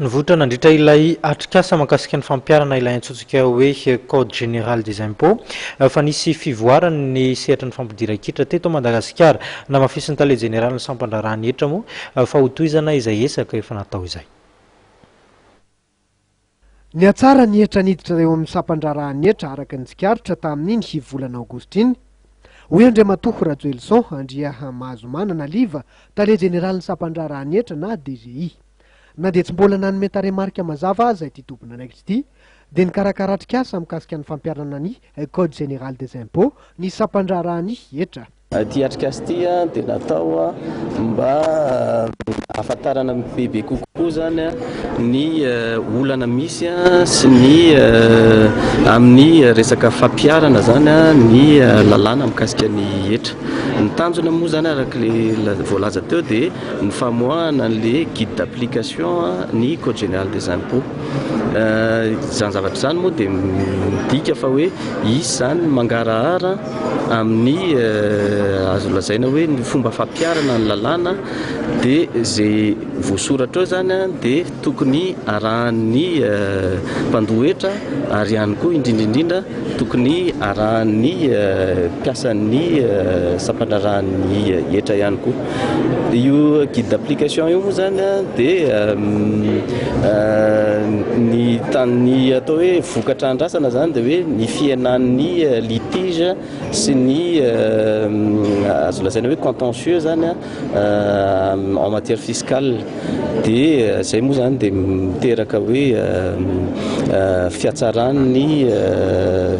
Nivoitra nandritra ilay atrikasa mahakasika ny fampiharana ilay antsontsika hoe Code général des impôts fa nisy fivoarany ny sehatry ny fampidiran-kitra teto Madagasikara. Namafisin'ny tale jeneralin'ny sampan-draharahan'ny hetra moa fa hotohizana izay ezaka efa natao izay. Nihatsara ny hetra niditra eo amin'ny sampan-draharaha ny hetra araka ny tsikaritra tamin'iny volana aogositra iny, hoy Andriamatoa Rajoelison Andriamahazomanana Liva, tale jeneralin'ny sampan-draharaha ny hetra na DGI. Na dia tsy mbola nanome tarehimarika mazava aza ity tompon'andraikitra ity, dia nikarakara atrikasa mikasika ny fampiharana ny Code Général des Impôts ny sampan-draharaha ny hetra. Ity atrikasa ity dia natao mba hahafantarana bebe kokoa izany ny olana misy sy ny amin'ny resaka fampiharana izany ny lalàna mikasika ny hetra. Ny tanjona moa izany araka ilay voalaza teo dia ny famoahana an'ilay guide d'application ny code général des impôts. Izany zavatra izany moa dia midika fa hoe hisy izany ny mangarahara amin'ny azo lazaina hoe ny fomba fampiharana ny lalàna dia izay voasoratra ao izany dia tokony arahan'ny mpandoa hetra ary ihany koa indrindra indrindra Tokony arahan'ny mpiasan'ny sampandraharahan'ny hetra ihany koa. Dia io guide d'application io moa izany dia ny tamin'ny atao hoe vokatra andrasana izany dia hoe ny fihenan'ny litige sy ny azo lazaina hoe contentieux izany. en matière fiscale dia izay moa izany dia miteraka hoe fihatsaran'ny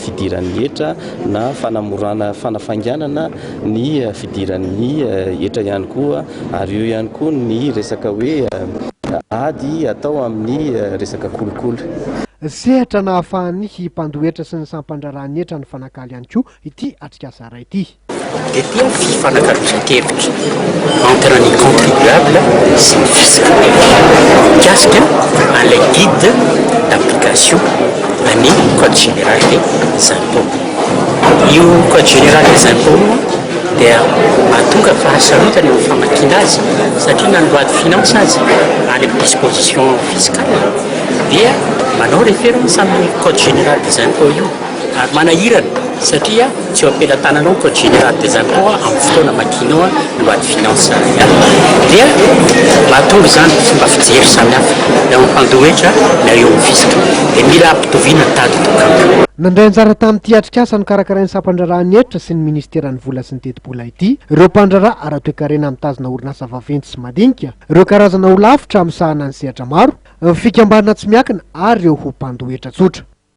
fidiran'ny hetra na fanamorana fanafainganana ny fidiran'ny hetra ihany koa ary eo ihany koa ny resaka hoe ady atao amin'ny resaka kolikoly. Sehatra nahafahany mpandoa hetra sy ny sampandraharahan'ny hetra nifanakalo ihany koa ity atrikasa iray ity. Dia toy ny fifanakalozankevitra entre ny contribuables sy ny fisc mikasika an'ilay guide d'application an'ny code général des impôts. Io code général des impôts io dia mahatonga fahasarotana eo amin'ny famakiana azy satria na ny loi de finances aza any amin'ny disposition fiscale dia manao référence amin'ny code général des impôts io. Ary manahirana satria tsy eo am-pelatananao ny Code Général des Impôts amin'ny fotoana amakianao ny Loi de Finances Salariales. Dia mahatonga izany fomba fijery samihafa na eo amin'ny mpandoa hetra na eo amin'ny fisc. Dia mila ampitoviana ny tady dokamp. Nandray anjara tamin'ity atrikasa nokarakarain'ny Sampandraharahan'ny Hetra sy ny Minisiteran'ny Vola sy ny Tetibola ity ireo mpandraharaha ara-toekarena mitazona orinasa vaventy sy madinika, ireo karazana holafitra misahana ny sehatra maro, ny fikambanana tsy miankina ary ireo ho mpandoa hetra tsotra.